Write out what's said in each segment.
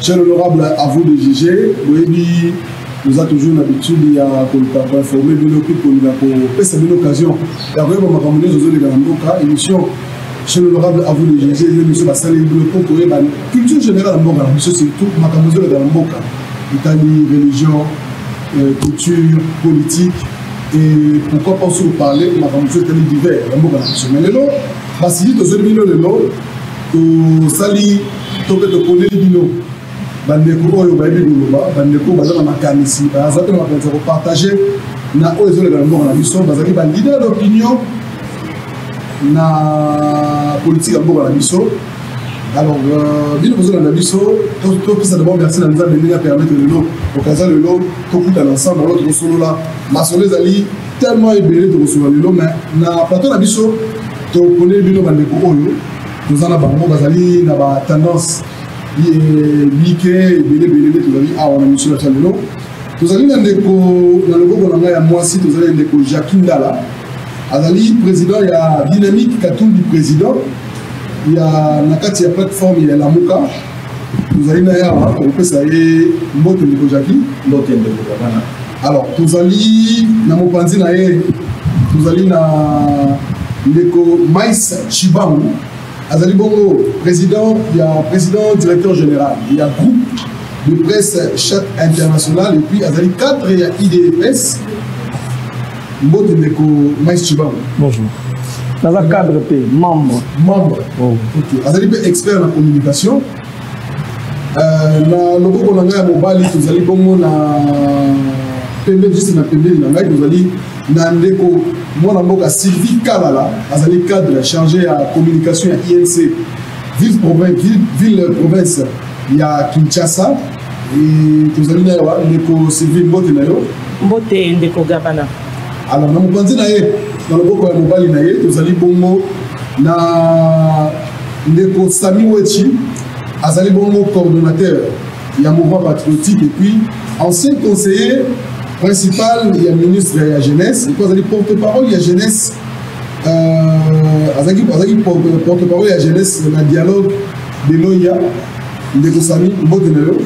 Cher honorable, à vous de juger. Boyebi, nous avons toujours l'habitude ya ko informer bino puis ko linga ko pesa bino occasion. Ya koyeba makambo nyoso zo leka na mboka émission chez l'honorable à vous de juger yo biso basali bino po koyeba culture générale ya mboka na biso surtout makambo zo leka na mboka etali religion, euh, culture, politique et pourquoi pas aussi parler makambo so etali divers ya mboka na biso. Mais lelo basili tozoli bino lelo tosali to mpe toponeli bino bandeko oyo bayebi koloba bandeko baza na makanisi baza mpe na makanisi ya kopartage na oyo ezoleka na mboka na biso bazali balider d'opinion na politike ya mboka na biso alors euh, bino bozolanda biso topesa dabord merci na nzambe ndenge apermettre lelo okaza lelo tokutana ensemble alo tokosolola masolo ezali tellement ebele tokosolola lelo mais na plateau na biso toponeli bino bandeko oyo toza na bango bazali na ba tendance mike ebelebele nde tozali awa na misio ya lelo tozali na ndeko na loboko na ngai ya mwasi tozali na ndeko jacqui ndala azali président ya dynamique katumbi président ya na kati ya plateforme ya lamuka tozali na ye awa tokopesa ye mbote ndeko jaki mbote ndeko jakana alors tozali na mopanzi na ye tozali na ndeko mais chibangu azali bongo président ya président directeur général ya groupe de presse chat international et puis azali cadre ya idps mbote ndeko mais chibango bonjour naza cadre te membre membre oh. ok azali mpe expert na communication euh, na loboko na ngai ya mobali tozali bongo na pembe juste na pembeni na ngai tozali na ndeko mwana mboka sylvie kalala azali cadre chargé ya communication ya inc ville province, ville, ville province ya kinshasa tozali na yawa ndeko sylvie mbote na yo mbote ndeko gabana ala na mopanzi na ye na loboko ya mobali na ye tozali bongo na ndeko sami wechi azali bongo coordonnateur ya mouvement patriotique et puis ancien conseiller principal ya ministre ya jeunesse epo azali porte parole ya jeunesse euh, azalaki porte parole ya jeunesse na dialogue de loya ndeko sami mbote na yo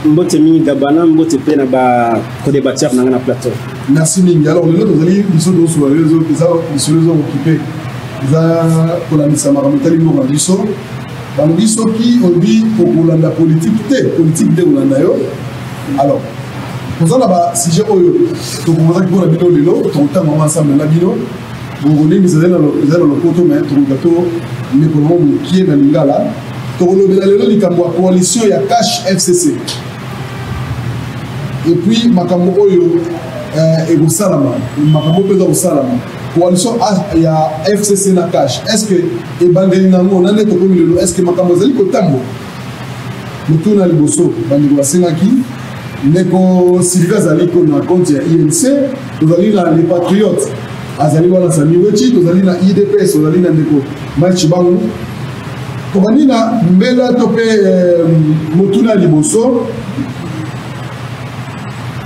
mbote mingi gabana mbote mpe na bacodebateur na ngai na plateau merci mingi alors lelo tozali biso tosola lelo eza lisolo eza okipe eza kolandisa makambo etali mboka biso balobi soki obi okolanda politike te politike nde kolanda yo alors toza na basujet oyo tokomozaki mpo na bino lelo tokotanga yango ensemble na bino mongolini ezali na lopoto me toluka to mekola ngo mokie na lingala tokolobela lelo likambo ya coalition ya cash fcc epuis makambo oyo eh, ekosalama makambo oyo mpenza kosalama coalition ya fcc na cash est ce que ebandeli na yango na nde tokomi lelo est ce que makambo ezali kotambola Motuna ya liboso bandeko basengaki ndeko Sylvie azali ko na compte ya INC, tozali na les patriotes azali wana Sami Wechi, tozali na IDPS, tozali na ndeko Mike Chibangu. Tobandi na mbela to mpe eh, motuna ya liboso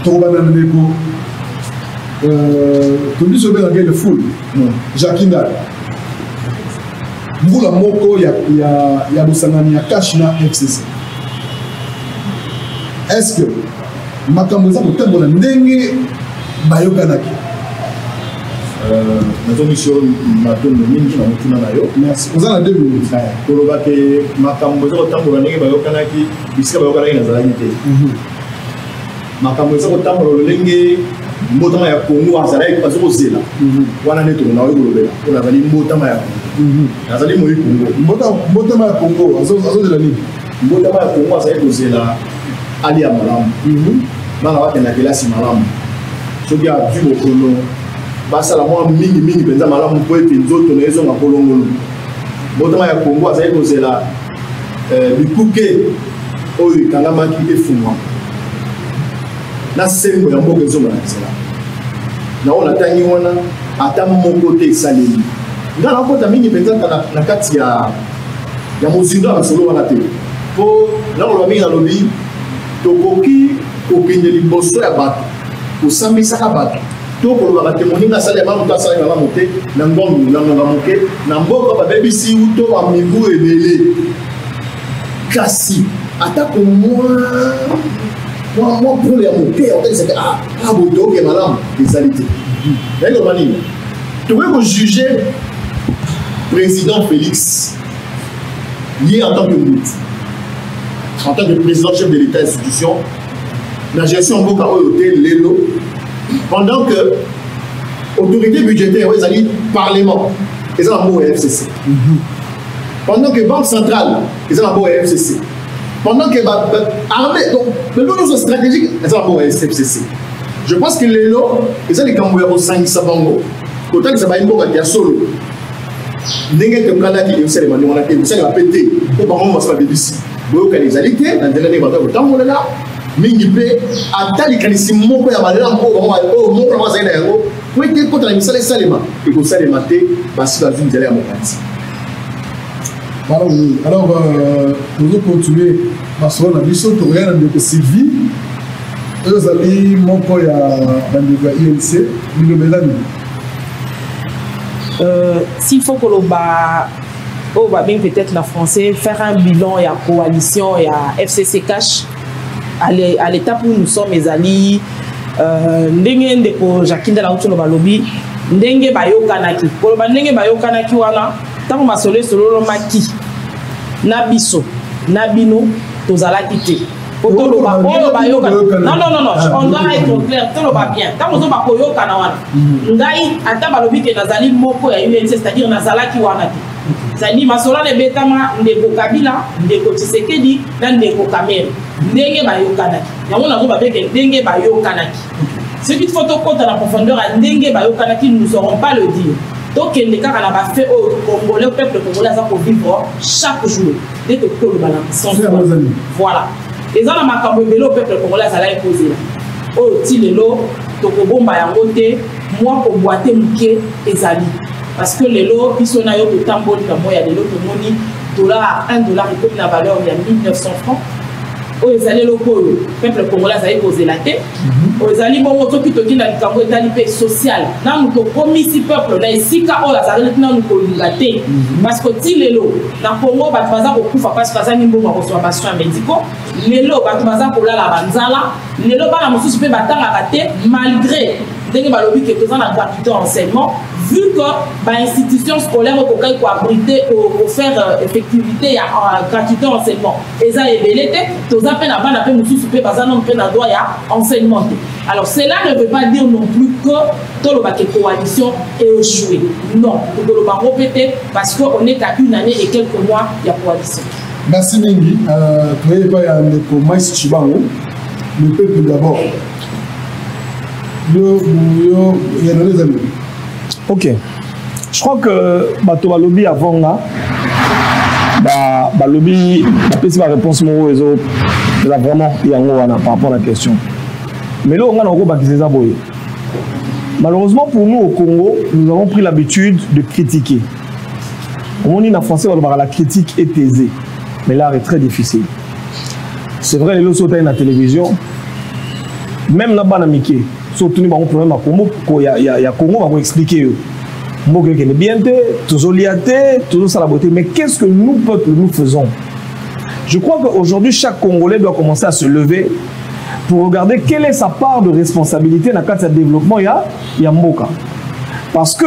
tokobanda na ndeko euh, tobiso obengaka ele ful jacquindal mbula moko ya, ya, ya bosangani ya cash na fcc est ce que makambo eza kotambola ndenge bayokanaki euh, nazongisi yo matondo mingi na motuna na yo merci oza na deux minutes koloba te makambo eza kotambola ndenge bayokanaki bisika bayokanaki nazalaki te mhm. makambo eza kotambola lolenge mbotama ya kongo azalaki baza kozela mhm. wana nde toko naoki kolobela mpo nazali mbotama ya kongo mhm. nazali moyi kongo mbotama ya kongo azozela nini mbotama ya kongo azali kozela alia malamu mhm. bana bakenda kelasi malamu soki azwi bokono basala mwa mingi mingi mpenza malamu mpo ete nzoto na ye ezonga kolongonu mbotama ya kongo azali kozela eh, bikuke oyo ekangamaki efungwama na sembo ya mboka ezonga na nzela nao natangi wana ata moko te esaleli nga nakota mingi mpenza na kati ya ya mozindo ya masolo wana te mpo nakoloba mingi nalobi tokoki kokende liboso ya bato kosambisaka bato to kolobaka te moninga asali ya mamu to asali malamu te na ngongo na ngonga moke na mboka babebisi uto bamibu ebele kasi atako mwa mwa mwa pole ya moke ya kotekisaka ah, ah boye toyoke malamu ezali te nayebi koloba nini tokoki kojuge président félix ye en tant que motu en tant que président chef de l'état institution na gestion mboka oyo te lelo pendant que autorité budgétaire oyo ezali parlement eza na mboka ya fcc mhm. pendant que banque centrale eza na mboka ya fcc pendant que armée donc lelo nyonso stratégique eza na mboka ya fcc je pense que lelo eza likambo ya kosangisa bango kotalisa bayi mboka ya solo ndenge tokanaki esalema ndenge wana te esalema mpe te mpo bango mosi babebisi boyokani ezali te na nzela ndenge bato ya kotambolela mingi mpe ata likanisi moko ya malamu oyo moko na bango azali na yango po ete ekota na misala esalema ekosalema te basi bazwi nzela ya mopanzi Alors, alors euh, tozo continuer masolo na biso tokoya na ndeko sylvie oyo ezali moko ya bandeko ya inc bilobela nini euh, s'il faut koloba oyo babengi peut-être na français faire un bilan ya coalition ya fcc cash à l'étape où nous sommes ezali euh, ndenge ndeko jakinda na uti oloba lobi ndenge bayokanaki koloba ndenge bayokanaki wana ntango masolo esololomaki na biso na bino tozalaki te po toloba oyo bayokana non non non non on doit être clair toloba bien ntango ozoba koyokana wana mm. ngai ata balobi ke nazali moko ya unc c'est à dire nazalaki wana te zali masolo na ebetama ndeko kabila ndeko tshisekedi na ndeko kamere ndenge bayokanaki yango nango babeke ndenge bayokanaki soki fo tokɔta na profondeur ya ndenge bayokanaki nous aurons pas le dire tokende kaka na bafe oyo congolais peuple congolais aza kovivre chaque jour nde tokoki koloba na sens voilà eza na makambo ebele oyo peuple congolais azalaki kozela oyo ti lelo tokobomba yango te mwa kobwate moke ezali parce que lelo biso na yo totamboli na moi ya lelo tomoni dollar 1 dollar ekomi na valeur ya 1900 francs oyo ezali eloko oyo peuple congolais azali kozela te Mhm. ezali bongo soki toki na likambo etali mpe social nanu tokomisi peuple na esika oyo azalaki nanu kolinga te mhm. parce que ti lelo na congo bato baza kokufa parce bazangi mbongo ya kozwa basoin médicaux lelo bato baza kolala banzala lelo bana mosusu mpe batangaka te malgré ndenge balobi ke toza na gratuité enseignement vu que bainstitution scolaire okokaki koabrite kofaire euh, effectivité ya euh, gratuité enseignement eza ebele te toza mpe na bana mpe mosusu mpe baza nano mpe na droit ya enseignement te alors cela ne veut pas dire non plus que toloba ke coalition echoue non tokoloba yango mpe te parce que on est à une année et quelques mois ya coalition merci mingi euh, toye epai ya ndeko mais cibango le peuple d'abord yo yo yanolezami ok je crois que bato balobi avant nga balobi bapesi baréponse moko oyo eza vraiment yango wana par rapport na question mais leo ngai nakobakisa eza boye malheureusement pour nous au congo nous avons pris l'habitude de critiquer omoni na français balobaka la critique est aisée mais l'art est très difficile c'est vrai lelo soki otali na télévision même na bana mike so otuni bango problème ya congo ko ya, ya, ya congo bako explique yo mboka ekende bien te tozolia te tozosala boye te mais qu'est ce que nous peuple nous faisons je crois qu'aujourd'hui chaque congolais doit commencer à se lever pour regarder quelle est sa part de responsabilité na kati ya développement ya, ya mboka parce que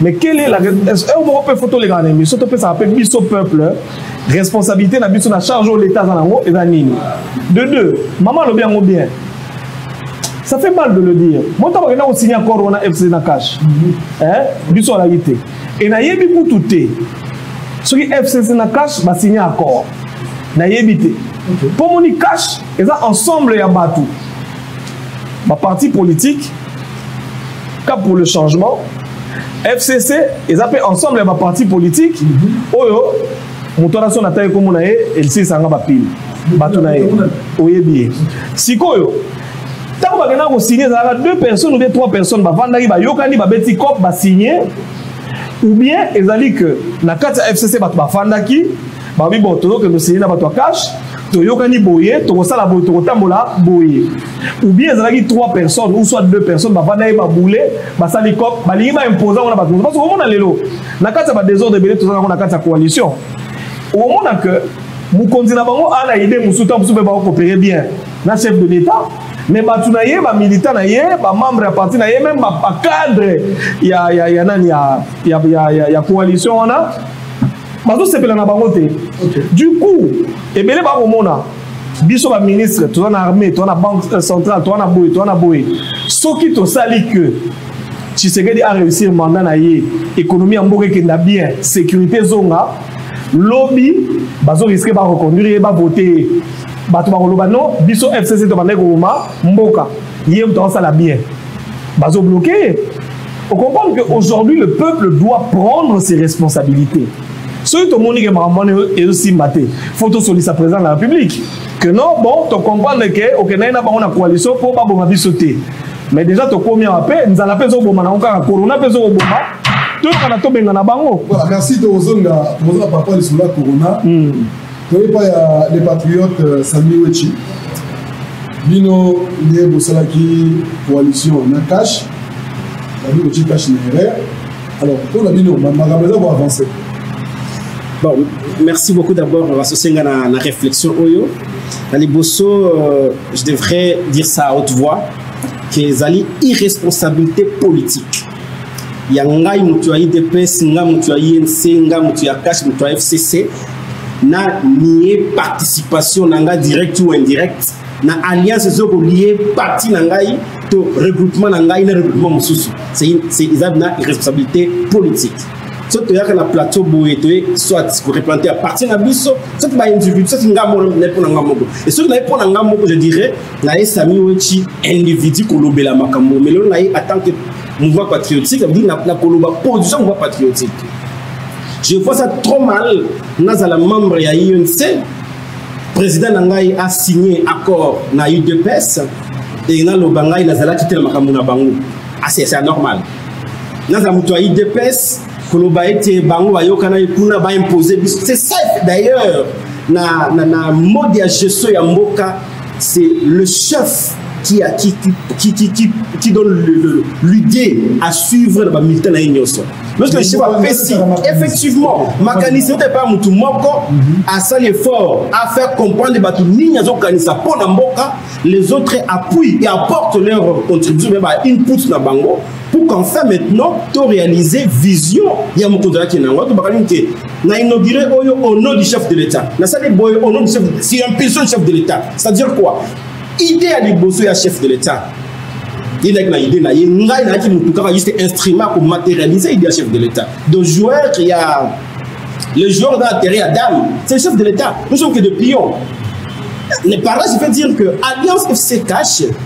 mais quelle est la heure moko mpe fo tolekaka na émission topesaka mpe biso peuple responsabilité na biso na charge oyo leta aza nango eza nini de deux mama alobi yango bien ça fait mal de le dire mo ntango akenda kosigne accord wana fc na cash mhm. biso alaki te e nayebi kutu te soki fcc na cash basigne accord nayebi te mpo moni cash eza ensemble ya bato ba parti politique cap pour le changement fcc eza mpe ensemble ya ba parti politique mhm. oyo moto wana so natali nkombo na ye eliselisanga bapile bato na ye oyebi ye sikoyo ntango bakendaka kosigne ezalaka deux personnes ou bien trois personnes bavandaki bayokani babeti cop basigne ou bien ezali que na kati ya fcc bato bafandaki babi bo tozokende osigne na bato ya cash toyokani boye tokosala boye tokotambola boye ou bien ezalaki trois personnes ou soit deux personnes bavanda ye babule basali cop balingi baimposa yango na bato mosusu parce omona lelo na kati ya badesordre ebele toza nango na kati ya coalition omona que mokonzi na bango ana ide mosusu ntango mosusu mpe bakokopere bien na chef de l'état mais bato na ye bamilita na ye bamembre ya parti na ye meme bacadre ya, ya, ya nani ya, ya, ya, ya, ya coalition wana bazosepela na bango te du coup ebele bakomona biso baministre toza na armée toza na banque euh, centrale toza na boye toza na boye soki tosali que tshisekedi aréussir mandat na ye économie ya mboka ekenda bien sécurité ezonga lobi bazoriske bareconduire ye bavote ye bato bakoloba no biso fcc tobandaki koboma mboka ye moto akosala bien Bazo bloquer. On comprend que aujourd'hui le peuple doit prendre ses responsabilités. soki tomoni ke makambo wana ezosimba te fo tosolisa président de la république que non bon tocomprendre ke okendaki na bango na coalition mpo baboma biso te mais déjà tokomi awa mpe nzala mpe ezoboma nango kaka corona mpe ezokoboma toyokana tobengana bango voilà merci tokozonga tokozonga par rapport lisolo ya corona hmm. toye epai ya le patriote euh, sami wechi bino nde bosalaki coalition na cash babi kotie cash na erreur alors mpo na bino makambo eza koavance bon merci beaucoup d'abord basosie nga na, na réflexion oyo na liboso euh, je devrais dire ça à haute voix que ezali irresponsabilité politique ya ngai moto ya idps ngai moto ya inc ngai moto ya cash moto ya fcc na nie participation na ngai direct ou indirect na alliance ezo kolie parti na ngai to regroupement na ngai na regroupement mosusu eza na irresponsabilité politique so toyaka na plateau boye toye soit koreplante ya parti na biso soki baindividu soki ngai moko naye mpo na ngai moko e soki naye mpo na ngai moko je dirais na ye sami wetshi individu kolobela makambo omelo na ye atant que mouvement patriotique abidi na koloba position mouvement patriotique je vois ça trop mal nazala membre ya unc président na ngai asigne accord na udps e naloba ngai nazalaki te na makambo na bango asi ah, c'est normal nazala moto ya udps koloba ete bango bayokanaki kuna baimpose biso c'est ça d'ailleurs na, na, na mode ya gestion ya mboka c'est le chef qui, a, qui, qui, qui, qui, qui donne l'idée à suivre na bamilita na ye nyonso lorsque le chef apesi effectivement makanisi ote epai motu moko asali effort afaire comprendre bato nini azokanisa mpo na mboka les autres appuient et apportent leur contribution mpe bainput na bango pour qu'enfin maintenant to réaliser vision ya mokonzi alaki na yango to bakali te na inauguré oyo au nom du chef de l'état nasali boye au nom du chef de si impulsion du chef de l'état c'est à dire quoi idée ya liboso ya chef de l'état ye nayaki na idée na ye ngai nayaki motu kaka juste instrument ko matérialiser idée ya chef de l'état de joueur ya le joueur dans terrain ya dame c'est le chef de l'état nous sommes que de pions les parents je peux dire que alliance fc cache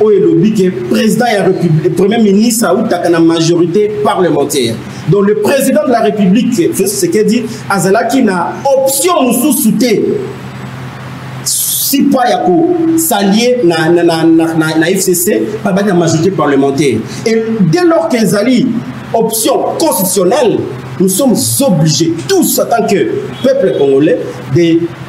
oyo elobi ke président ya république premier ministre autaka na majorité parlementaire donc le président de la république félix tshisekedi azalaki na option mosusu te si pas ya kosalie na, na, na, na, na, na fcc babaki na majorité parlementaire et dès lors qu'ezali option constitutionnelle nous sommes obligés tous en tant que peuple congolais de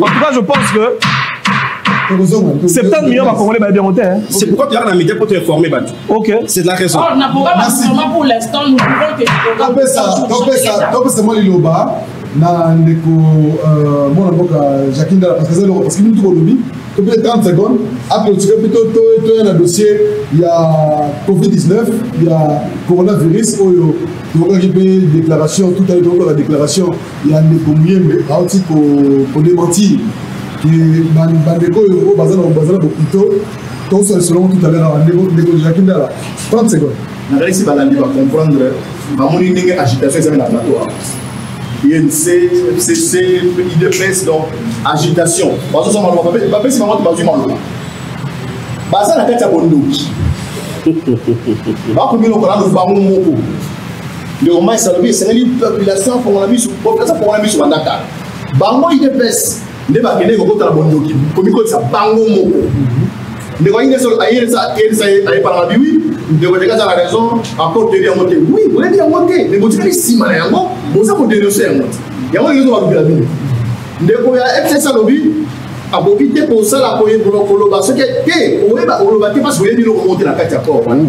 En tout cas, je pense que 70 millions bakongolais bayebi yango te c'est pourquoi toyaka na média mpo to informe bato ok c'est de la raison oh, topesa mwa liloba na ndeko euh, mwana mboka jacqui ndala parce que eza eloko parce que mintu kolobi to mpe 30 secondes ape otika mpe toya na dossier ya covid-19 ya coronavirus oyo tokokaki mpe déclaration tout à l'heure tokokaka déclaration ya ndeko muyembe auti kodementir ke bandeko oyo oyo baza na bopito tokosa lisolongo tout à l'heure awa ndeko jaki ndala 30 seconde nakanisi balandi bacomprendre bamoni ndenge agitation ezali na plateau awa inc fcc idps donc agitation bazozwa maloba bapesi bango te bazwi maloba baza na kati ya bondoki bakomi lokola bango moko ndeko mais alobi esengeli population afongola miso population afongola miso banda kala bango udps nde bakendeki kokota na bondoki komikotisa bango moko ndeko ayebana mabi wi ndeko ndeka aza na raison encore toyebi yango te wi boyebi yango te ndeko otikali nsima na yango boza kodenonse yango te yango ndenge tobalukela bino ndeko ya fcs alobi akoki te kosala koyebolo koloba soki te oyeba oloba te mpasi oyebi eloko moko te na kati ya corps wana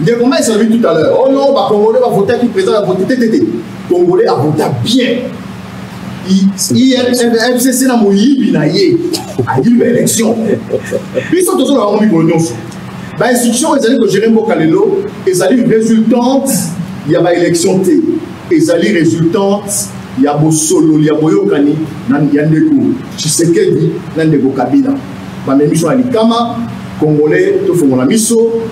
ndeko mais olobi tout à l'heure oyo oh bacongolais bavotaki président ya vote tetete congolais avota bien fcc na moyibi na ye ayibi baélection biso tozoloba yango mikolo nyonso bainstitution oyo ezali kogere mboka lelo ezali résultante ya baélection te ezali résultante ya bosololi ya boyokani ya ndeko tshisekedi na ndeko kabila bamemi biso na likama congolais tofongola miso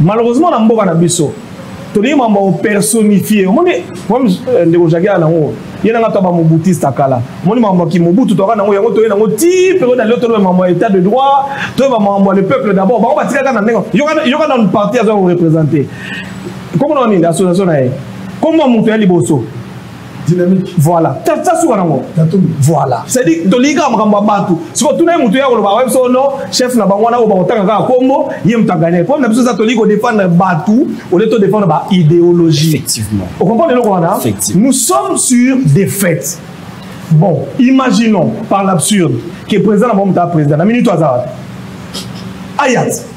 malheureusement na mboka na biso tolingi mambo ya opersonifie omoni problème euh, ndeko jaki ya nango ye nanga to bamobutista kala omoni mambo ya kimobutu toyaka nango yango toye nango ti periode alio toloba mambo ya état de droit toyeba mambo ya le peuple d'abord bango batikaka na ndenge yoka nanu parti aza korepresente komona nini association na ye komona moto ya liboso dynamique voilà tata suka nango voilà c'est-à-dire tolingi kaka makambo ya bato siko tuna ye moto ya koloba ayebi so no chef na bango wana oyo bakotanga kaka nkombo ye moto agane problème na biso eza tolingi kodefendre bato olie todefendre ba idéologie effectivement okomprendre eloko wana nous sommes sur des fêtes bon imaginons par l'absurde que président na bango moto ya président na minute aza wapi ayati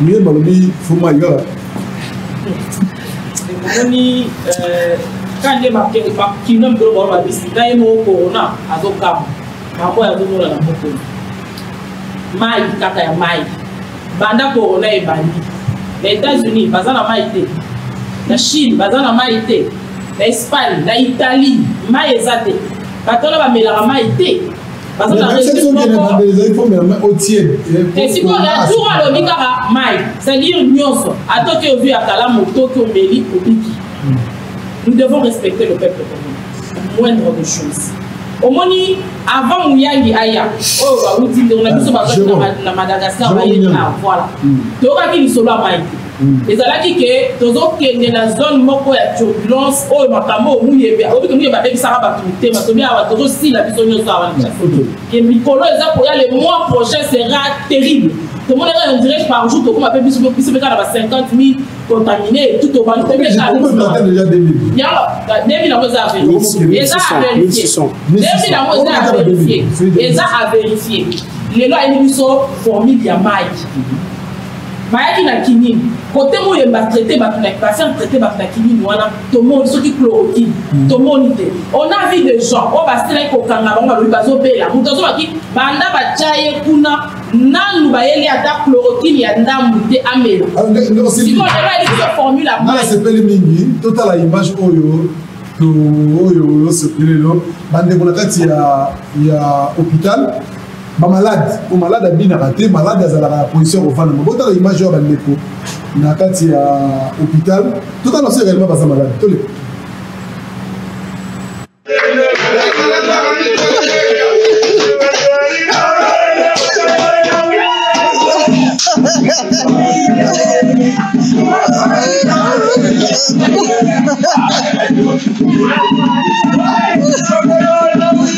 Mieux balobi fuma yo. Oni euh quand les marqués par qui nomme de l'eau la bise, quand il est corona, à son camp, ma foi à nous la moto. Maï, kaka ya maï. Banda corona et bandi. Les États-Unis, baza na maï te. La Chine, baza na maï te. Na Espagne, na Italie, maï ezate. Batona ba melaka maï te. baza na registre moko esikoyo ya tour alobi kaka mai c'est-à-dire nyonso ata oki ozwi ya kalamu otoki omeli obiki hmm. nous devons respecter le peuple commun moindre de chose omoni avant muyangi aya oyo bawuti ndeko na biso bazwaki na madagascar bayei na voilà toyokaki lisolo ya mai te ezalaki ke tozokende na zone moko ya turbulence oyo makambo oyo muyembe oyoki te muyembe abebisaka bato mitema tobi awa tozosila biso nyonso awa ke mikolo eza koya le mois prochain sera terrible tomonaka na direct par jour tokoma mpe biso biso mpe kaka na ba 50 000 contamine tout tobandi mpe mpe kaka yango 2000 yango eza averifie eza averifie 2000 yango eza averifie eza averifie lelo ayeli biso formule ya mike bayaki na kinini kote moye batraite bato na basal traite bato na kinini wana tomoni soki chloroquine hmm. tomoni te on a vie de gens oyo basilaki kokanga bango balobi bazobela moto azobaki banda batya ye kuna nanu bayeli ata chloroquine ya ndambu te amela ah, sikoyo lelo ayebisi formule nasepeli mingi totala image oyo oyo osepeli lelo bandeko na kati ya hôpital ba malade o malade abinaka te malade azalaka na position ya kofanda botala image oyo bandeko na kati ya hôpital totala baso également baza malade toleka